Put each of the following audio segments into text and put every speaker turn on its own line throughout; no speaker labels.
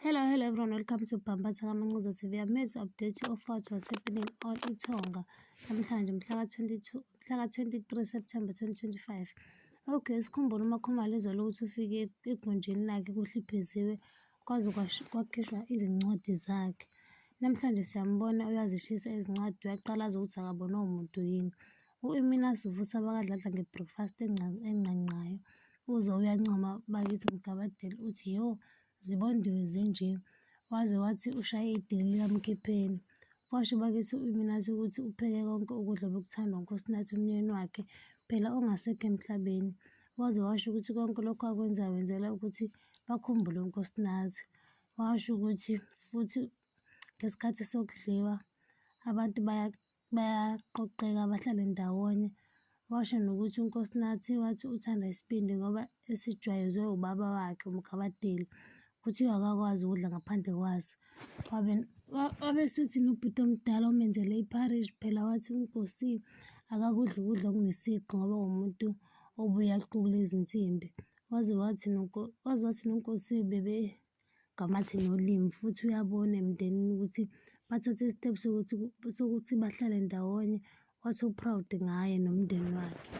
Hello, hello everyone. Welcome to Bhambatha Kamancuza TV. Amezwi update ofathi wasePinning or iThonga namhlanje mhla ka-22 mhla ka-23 September 2025. Okay, sikhumbula uMakhumalo ezolo ukuthi ufike egunjini lakhe kuhlipheziwe kwaze kwakhishwa izincwadi zakhe. Namhlanje siyambona uyazishisa izincwadi uyaqalaza ukuthi akabonwa umuntu yini. U-Imina Sivutha bakadladla nge-breakfast enqanqayo uze uyancoma bakithi mgabadeli uthi yo zibondiwe zinje waze wathi ushaye idili likamkhipheni washo bakithi u-iminathi ukuthi upheke konke ukudla obekuthandwa ngunkosinathi umnyeni wakhe phela ongasekho emhlabeni waze washo ukuthi konke lokho akwenza wenzela ukuthi bakhumbule unkosinathi washo ukuthi futhi ngesikhathi sokudliwa abantu bayaqoqeka bahlale ndawonye washo nokuthi uNkosinathi wathi uthanda isibindi ngoba esijwayezwe ubaba wakhe uMgabadeli kuthiwa akakwazi ukudla ngaphandle kwaso wabe wabe sethi nobhuti omdala omenzele iparish phela wathi unkosi akakudla ukudla okunesiqu ngoba umuntu obuye aqukule izinsimbi waze wathi waze wathi nonkosi bebe ngamathe nolimi futhi uyabona emndenini ukuthi bathathe i-step sokuthi sokuthi bahlale ndawonye wathi u-proud ngaye nomndeni wakhe.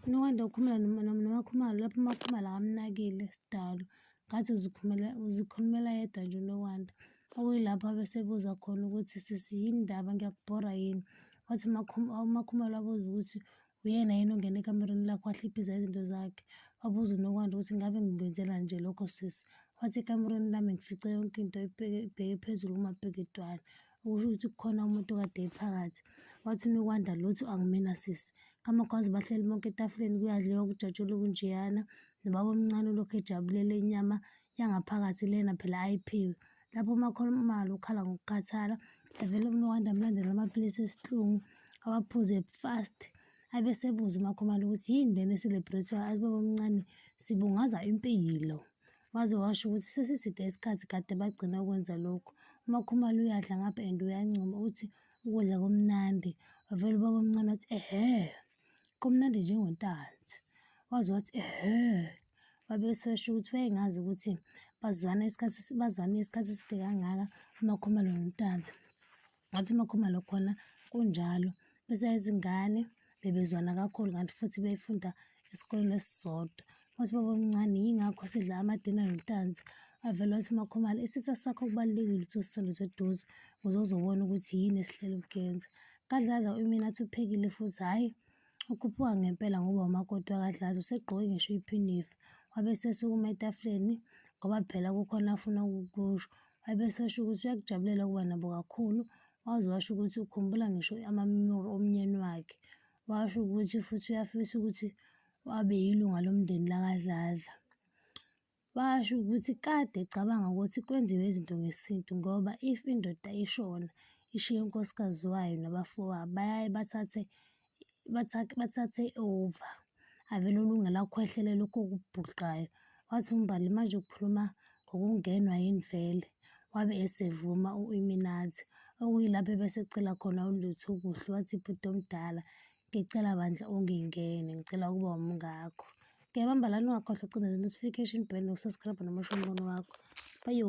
Unokwanda ukhulumela noMakhumalo lapho uMakhumalo akamnakile sidalo ngathi uzikhulumela uzikhulumela yedwa nje unokwanda. Okuyilapho abesebuza khona ukuthi sisi yini ndaba ngiyakubhora yini? Wathi uMakhumalo wabuza ukuthi Uyena yini ongena ekamerweni lakho wahliphiza izinto zakhe? Wabuza uNokwanda ukuthi ngabe ngikwenzela nje lokho sisi. Wathi ekamerweni lami ngifice yonke into ibheke phezulu kumabheketwana. Ukusho ukuthi kukhona umuntu kade ephakathi. Wathi uNokwanda lutho angimina sisi. Kamakwazi bahleli bonke etafuleni kuyadliwa kujatshulwe kunjeyana. Nobaba omncane ulokhu ejabulele inyama yangaphakathi lena phela ayiphiwe. Lapho uMakholo uMalo ukhala ngokukhathala, evele uMnokanda amlandela amaphilisi esihlungu, awaphuze fast. Abe sebuza uMakhomalo ukuthi yini lena eselebhrethwayo, athi baba omncane sibungaza impilo. Waze washo ukuthi sesiside isikhathi kade bagcina ukwenza lokhu. UMakhumalo uyadla ngapha and uyancoma uthi ukudla kumnandi. Wavele ubaba omncane wathi ehhe. Kumnandi njengontanzi. Waze wathi, ehhe, wabe esesho ukuthi wayengazi ukuthi bazwana isikhathi, bazwane isikhathi eside kangaka uMakhumalo noNtanzi. Wathi uMakhumalo khona kunjalo, besayizingane bebezwana kakhulu kanti futhi befunda esikoleni esisodwa. wathi baba omncane yingakho sidla amadina notanzi avele wathi umakhomane isitha sakho kubalulekile ukuthi usithole seduze ukuze uzobona ukuthi yini esihlele ukuyenza kadladla imina athi uphekile futhi hhayi ukhuphuka ngempela ngoba umakoti wakadladla usegqoke ngisho iphinifa wabe sesukuma etafuleni ngoba phela kukhona afuna ukukusho wabe sesho ukuthi uyakujabulela ukuba nabo kakhulu waze washo ukuthi ukhumbula ngisho amamemori omnyeni wakhe washo ukuthi futhi uyafisa ukuthi wabe yilunga lomndeni lakaDladla. Washo ukuthi kade ecabanga ukuthi kwenziwe izinto ngesintu ngoba if indoda ishona ishiye unkosikazi wayo nabafowabo bayaye bathathe bathathe bathathe over avele olungela ukhwehlela lokho okubhuqayo. Wathi uMbali manje ukhuluma ngokungenwa yini vele wabe esevuma u-Illuminati okuyilapho ebese ecela khona uLutho kuhle wathi bhuti omdala Ngicela bandla ungingene, ngicela ukuba umngakho. Ngiyabamba lana ungakhohlwa ukucindeza notification bell nokusubscribe nokusho umbono wakho. Bayo.